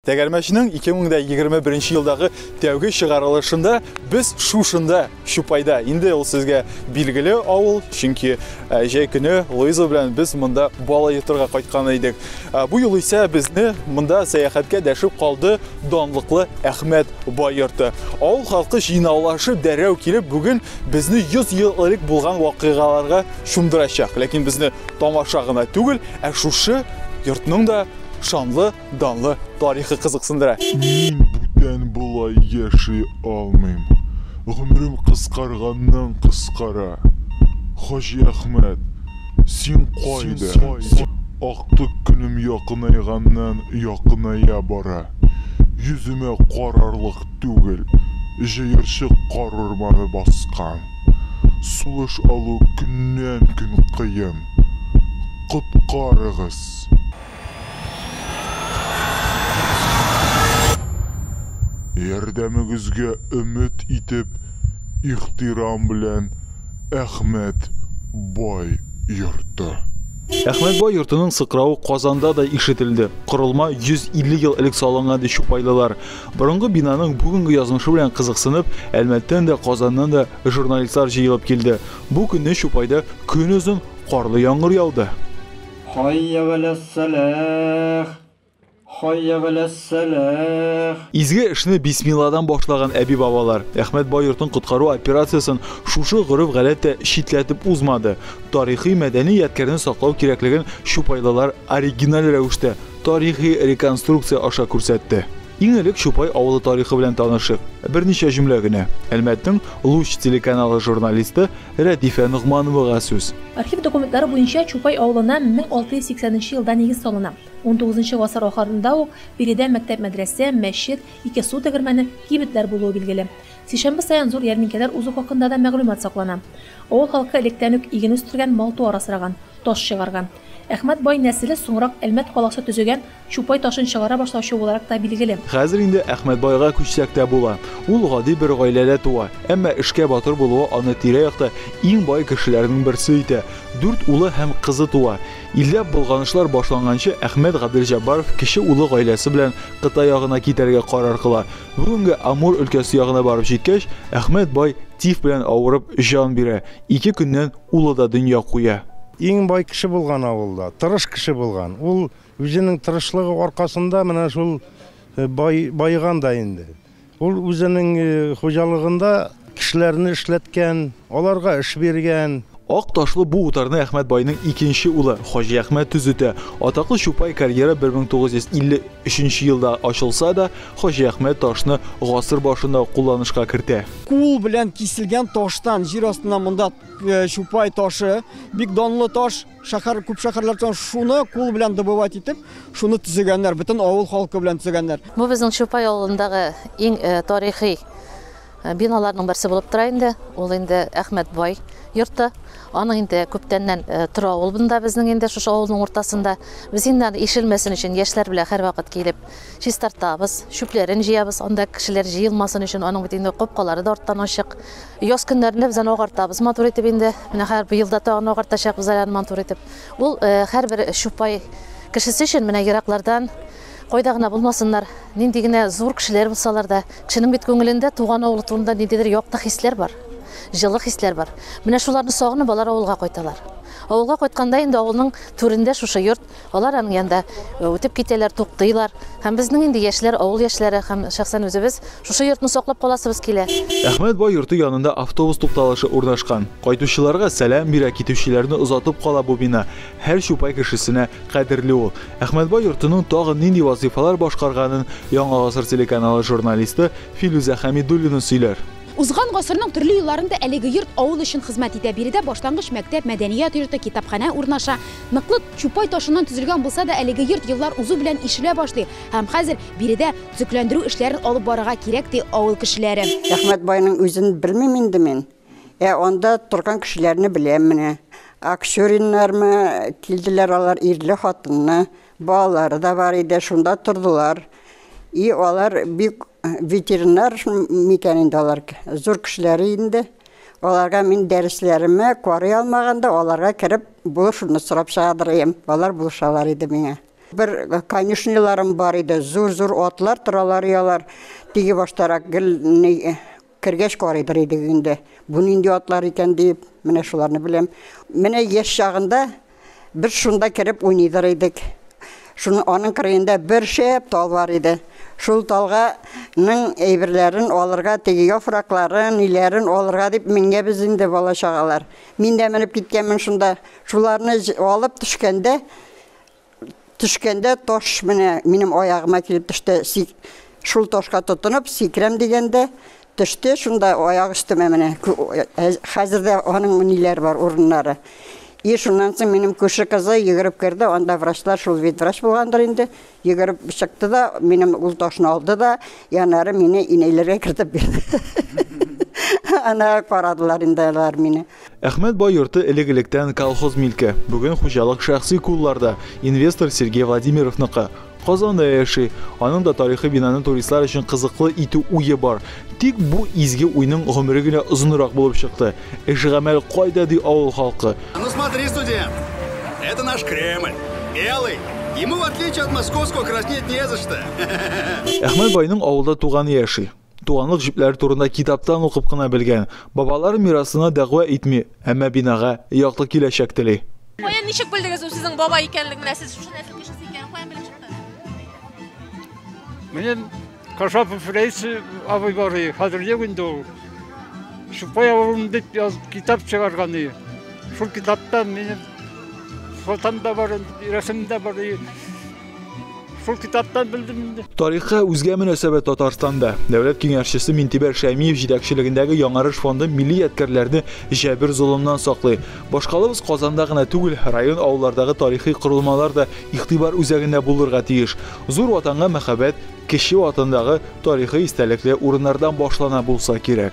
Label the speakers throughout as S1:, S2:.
S1: Тәгәрмәчнең 2021 елдагы тәүге чыгарылышында без шушында Чупайда. Инде ул сезгә билгеле авыл, чөнки э, җәй көне Луиза белән без монда бала йотырга кайткан идек. Э, бу юл исә безне монда сәяхәткә дәшеп калды данлыклы Әхмәт бай йорты. Авыл халкы җыйнаулашып дәрәү килеп, бүген безне 100 ел элек булган вакыйгаларга чумдырачак. Ләкин безне Тамаша гына түгел, ә шушы йортның да шанлы, данлы тарихы кызыксындыра. Мин бүтән
S2: болай яши алмыйм. Гомерем кыскарганнан кыскара. Хаҗиәхмәт, син кайда? Актык көнем якынайганнан якыная бара. Йөземә карарлык түгел, җыерчык кар урманы баскан. Сулыш алу көннән-көн кыен. Коткарыгыз! Ярдәмегезгә өмет итеп, ихтирам белән, Әхмәт бай йорты. Әхмәт
S1: бай йортының сыкравы Казанда да ишетелде. Корылма 150 ел элек салынган, ди чупайлылар. Борынгы бинаның бүгенге язмышы белән кызыксынып, Әлмәттән дә, Казаннан да журналистлар җыелып килде. Бу көнне Чупайда көнозын карлы яңгыр яуды. Хәйя галәс-сәләх! Хәйя галәс-сәләх! Изге эшне бисмилладан башлаган әби-бабалар Әхмәт бай йортын коткару операциясен шушы гореф-гадәт тә читләтеп узмады. Тарихи-мәдәни ядкәрне саклау кирәклеген чупайлылар оригиналь рәвештә Тарихи реконструкция аша күрсәтте. Иң элек Чупай авылы тарихы белән танышыйк. Берничә җөмлә генә. Әлмәтнең Луч телеканалы журналисты Рәдифә Ногмановага сүз. Архив документлары
S3: буенча Чупай авылына 1680 нче елда нигез салына. Унтугызынчы гасыр ахырында ук биредә мәктәп-мәдрәсә, мәчет, ике су тегермәне, кибетләр булуы билгеле. Сишәмбе саен зур ярминкәләр узу хакында да мәгълүмат саклана. Авыл халкы электән үк иген үстергән, мал-туар асраган, таш чыгарган. Әхмәт бай нәселе соңрак Әлмәт каласы төзегән Чупай ташын чыгара башлаучы буларак та билгеле. Хәзер инде Әхмәт
S1: байга күчсәк тә була. Ул гади бер гаиләдә туа, әмма эшкә батыр булуы аны тирә-якта иң бай кешеләрнең берсе итә. Дүрт улы һәм кызы туа. Илдә болганышлар башланганчы Әхмәт Гаделҗәббаров кече улы гаиләсе белән Кытай ягына китәргә карар кыла. Бүгенге Амур өлкәсе ягына барып җиткәч, Әхмәт бай тиф белән авырып җан бирә. Ике көннән Улы да дөнья куя. Иң бай кеше
S4: булган авылда, тырыш кеше булган. Ул үзенең тырышлыгы аркасында менә шул баеган да инде. Ул үзенең хуҗалыгында кешеләрне эшләткән, аларга эш биргән. Ак ташлы бу
S1: утарны Әхмәт байның икенче улы Хаҗиәхмәт төзетә. Атаклы Чупай карьеры 1953 елда ачылса да, Хаҗи Әхмәт ташны гасыр башында ук кулланышка кертә. Кул белән
S5: киселгән таштан, җир астыннан монда Чупай ташы, бик данлы таш, шәһәр, күп шәһәрләрдән шуны кул белән добывать итеп, шуны төзегәннәр, бөтен авыл халкы белән төзегәннәр. Бу безнең Чупай
S6: авылындагы иң тарихи. Ә, биналарның берсе булып тора инде. Ул инде Әхмәт бай йорты. Аның инде күптәннән э, тора ул бында безнең инде шушы авылның уртасында. Без инде аны ишелмәсен өчен яшьләр белән һәрвакыт килеп чистартабыз, чүпләрен җыябыз. Анда кешеләр җыелмасын өчен аның бит инде капкалары да арттан ачык. Яз көннәрендә без аны агартабыз матур итеп инде. Менә хәзер быел да тагын агартачакбыз әле аны матур итеп. Ул э, һәрбер чупай кешесе өчен менә ераклардан Кайда гына булмасыннар, нинди генә зур кешеләр булсалар да, кешенең бит күңелендә туган авылы турында ниндидер якты хисләр бар, җылы хисләр бар. Менә шуларны сагынып, алар авылга кайталар. Авылга кайтканда инде авылның түрендә шушы йорт, алар аның янында үтеп китәләр, туктыйлар. Һәм безнең инде яшьләр, авыл яшьләре һәм шәхсән үзебез шушы йортны саклап каласыбыз килә. Әхмәт бай йорты
S1: янында автобус тукталышы урнашкан. Кайтучыларга сәлам бирә, китүчеләрне озатып кала бу бина. Һәр чупай кешесенә кадерле ул. Әхмәтбай йортының тагын нинди вазыйфалар башкарганын Яңа гасыр телеканалы журналисты Филүзә Хәмидуллина сөйләр. Узган гасырның
S7: төрле елларында әлеге йорт авыл өчен хезмәт итә. Биредә башлангыч мәктәп, мәдәният йорты, китапханә урнаша. Ныклы чупай ташыннан төзелгән булса да, әлеге йорт еллар узу белән ишелә башлый һәм хәзер биредә төзекләндерү эшләрен алып барырга кирәк, ди авыл кешеләре. Әхмәтбайның
S8: үзен белмим инде мин. Ә анда торган кешеләрне беләм менә. Аксюриннармы килделәр алар, ирле хатынны, балалары да бар иде, шунда тордылар. И алар бик ветеринар микән инде алар, зур кешеләре инде. Аларга мин дәресләремә карый алмаганда, аларга кереп, булышуны сорап чыгардырыйм. Алар булышалар иде миңа. Бер конюшняларым бар иде, зур-зур атлар торалар, ялар. Теге баштарак гел Кергәч карыйдыр идек инде, бу нинди атлар икән диеп, менә шуларны беләм. Менә яшь чагында без шунда кереп уйныйдыр идек. Шуның аның кырыенда бер шәп тал бар иде. Шул талга ның әйберләрен алырга, теге яфракларын, ниләрен алырга дип менгәбез инде бала чагалар. Мин дә менеп киткәнмен шунда. Шуларны алып төшкәндә, Төшкәндә таш менә минем аягыма килеп төште. Сик... Шул ташка тотынып, сикрәм дигәндә, төште, шунда аяк өстемә менә. Хәзер дә аның ниләр бар, урыннары. И шуннан соң минем күрше кызы йөгереп керде, анда врачлар, шул вид врач булгандыр инде, йөгереп чыкты да, минем ул ташны алды да, янары мине инәйләргә кертеп бирде. Ана карадылар инде алар мине. Әхмәт бай йорты
S1: элек-электән колхоз милке. Бүген хуҗалык шәхси кулларда, инвестор Сергей Владимировныкы. Казанда яши. Аның да тарихи бинаны туристлар өчен кызыклы итү уе бар. Тик бу изге уйның гомере генә озынрак булып чыкты. Эш-гамәл кайда ди авыл халкы? Ну смотри,
S9: студент, это наш Кремль. Белый. Ему в отличие от московского краснеть не за что. Әхмәт
S1: байның авылда туганы яши. Туганлык җепләре турында китаптан укып кына белгән. Бабалар мирасына дәгъва итми, әмма бинага якты киләчәк тели. Каян, ничек белдегез
S10: ул сезнең бабай икәнлеген? Менә сез шушы
S5: нәсел кешесе икәнен каян белеп чыкты? Минем Кашапов Рәис абый бар иде, хәзер юк инде ул. Чукай авылын дип язып китап чыгарган иде. Шул китаптан минем фотом да бар, рәсем дә бар иде. Шул китаптан белдем инде. Тарихка үзгә
S1: мөнәсәбәт Татарстанда. Дәүләт киңәшчесе Минтибәр Шәймиев җитәкчелегендәге Яңарыш фонды милли ядкәрләрне җәбер золымнан саклый. Башкалабыз Казанда гына түгел, район авыллардагы тарихи корылмалар да игътибар үзәгендә булырга тиеш. Зур Ватанга мәхәббәт кече Ватандагы тарихи истәлекле урыннардан башлана булса кирәк.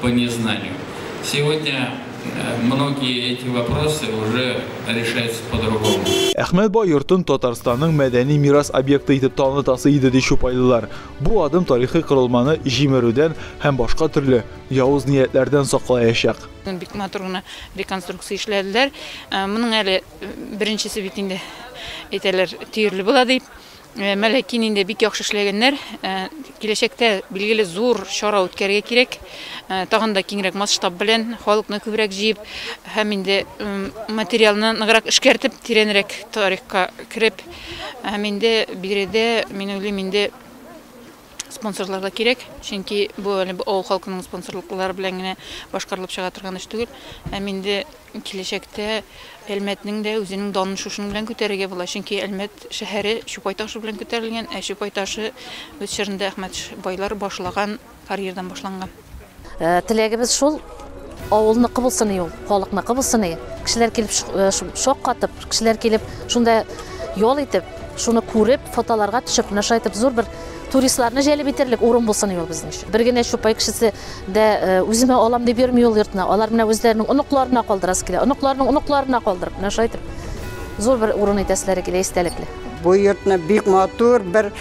S11: По незнанию. Сегодня многие эти вопросы уже решаются по-другому. Әхмәт бай йортын
S1: Татарстанның мәдәни мирас объекты итеп танытасы иде, ди чупайлылар. Бу адым тарихи корылманы җимерүдән һәм башка төрле явыз ниятләрдән саклаячак. Бик матур гына
S12: реконструкция эшләделәр. Моның әле беренчесе бит инде, әйтәләр, төерле була дип. Мәләки инде бик яхшы эшләгәннәр. Киләчәктә, билгеле, зур чара үткәрергә кирәк. Тагын да киңрәк масштаб белән, халыкны күбрәк җыеп һәм инде материалны ныграк эшкәртеп, тирәнрәк тарихка кереп һәм инде биредә, мин уйлыйм, инде спонсорлар да кирәк, чөнки бу әле авыл халкының спонсорлыклары белән генә башкарылып чыга торган эш түгел. Һәм инде Киләчәктә Әлмәтнең дә үзенең данын шушының белән күтәрергә була, чөнки Әлмәт шәһәре Чупай ташы белән күтәрелгән, ә Чупай ташы үз чорында Әхмәт байлар башлаган карьердан башланган. Теләгебез
S6: шул, авылныкы булсын и ул, халыкныкы булсын и, кешеләр килеп шаккатып, кешеләр килеп шунда ял итеп, шуны күреп, фотоларга төшеп, менә шулай итеп зур бер туристларны җәлеп итәрлек урын булсын ул безнең өчен. Бер генә чупай кешесе дә э, үземә алам дип йөрми ул йортны. Алар менә үзләренең оныкларына калдырасы килә. Оныкларының оныкларына калдырып, менә шулай итеп зур бер урын итәселәре килә истәлекле. Бу йортны
S8: бик матур бер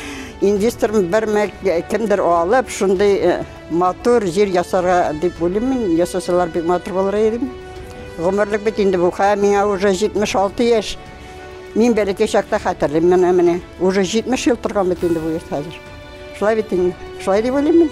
S8: инвестор бер э, кемдер алып, шундый э, матур җир ясарга дип уйлыйм мин. Ясасалар бик матур булыр иде. Гомерлек бит инде бу. Хә миңа уже 76 яшь. Мин бәләкәй чакта хәтерлим менә менә. Уже 70 ел торган бит инде бу йорт хәзер. Шулай бит инде. Шулай дип уйлыйм мин.